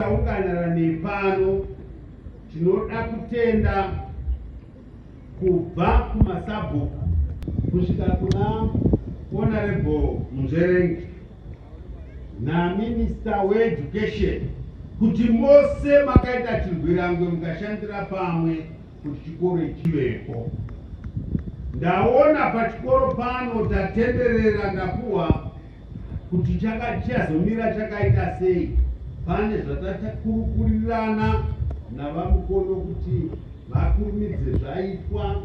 Taunganara nepano tinoda kutenda kubva kumasabhuku kusvika kuna honorable munzverengi naminista weeducation kuti mose makaita chirwirangwe mukashandira pamwe kuti chikoro chivepo ndaona pachikoro pano tatenderera ndapuwa kuti chaka chazomira chakaita sei pane zvatatakurukurirana navamukono kuti vakurumidze zvaitwa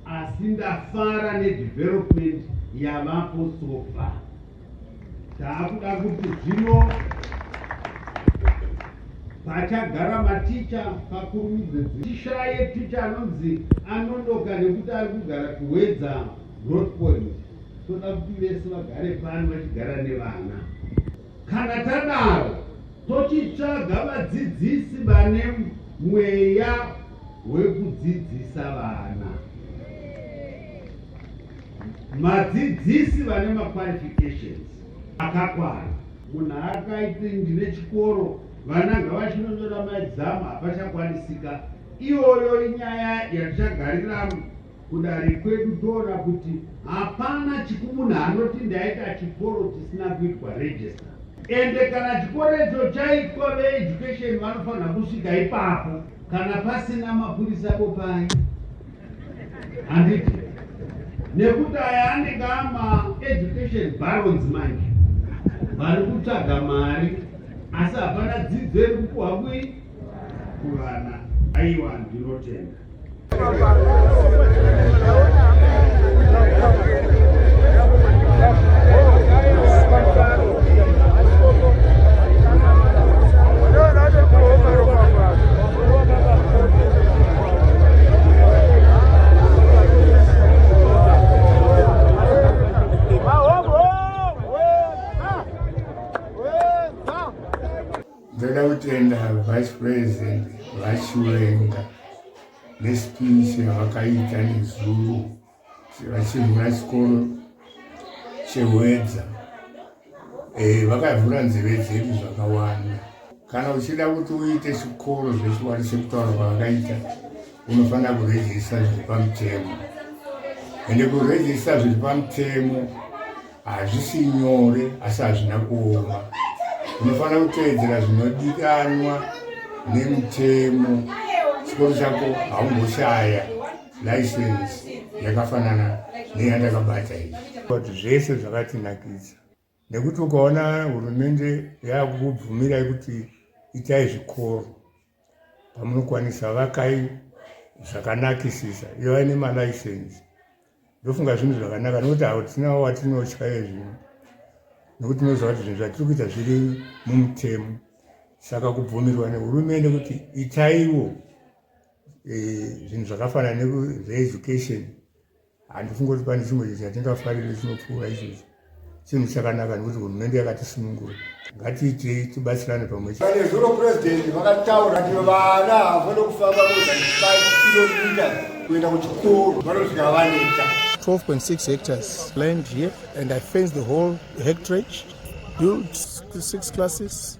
asi ndafara nedevelopment yavapo sofa taakuda kuti zvino pachagara maticha pakurumidze tishaye ticha anonzi anonoka nekuti ari kugara kuwedza road point toda kuti vese vagare pano vachigara nevana kana tadaro tochitsvaga vadzidzisi vane mweya wekudzidzisa vana Madzidzisi vane maqualifications akakwana. Munhu akaiti ndine chikoro vana ngavachinonyora maexam hapachakwanisika. Iyoyo inyaya yatichagarira kudare kwedu toona kuti hapana chikumunhu anoti ndaita chikoro chisina kuitwa register ende kana chikoro icho chaitwa veeducation vanofanira kusvika ipapo kana pasina mapurisa bopai handiti nekuti aya anenge ama education barons manje vari kutsvaga mari asi hapana dzidzo iri kupuhwa kui kuvana aiwa ndinotenda ndoda kutenda vice president vachiwenga nespeech yavakaita nezuro vachivhura chikoro chehwedza eh, vakavhura nzeve dzedu zvakawanda kana uchida kuti uite chikoro zvechiwari sekutaura kwavakaita unofanira kurejista zviri pamutemo ende kurejista zviri pamutemo hazvisi nyore asi hazvina kuoma unofanira kuteedzera zvinodikanwa nemutemo chikoro chako haumboshaya license yakafanana neyandakabata iyi but zvese zvakatinakidza nekuti ukaona hurumende yakukubvumirai kuti itai zvikoro pamunokwanisa vakai zvakanakisisa ivai nemalicense ndofunga zvinhu zvakanaka nokuti hatina watinotya yezvino nokuti tinoziva kuti zvinhu zvatiri kuita zviri mumutemo saka kubvumirwa nehurumende kuti itaiwo zvinhu zvakafanana nezveeducation handifunge kuti pane chimwe chinhu chatingafarire chinopfuura izvozvo chinhu chakanaka nekuti hurumende yakatisunungura ngatiitei tibatsirane pamwe chete pane zvuro purezidenti vakataura kuti vana havana kufamba kilomita kuenda kuchikoro vanosvika vaneta 12.6 hectares land here and i fence the whole hectrage built six classes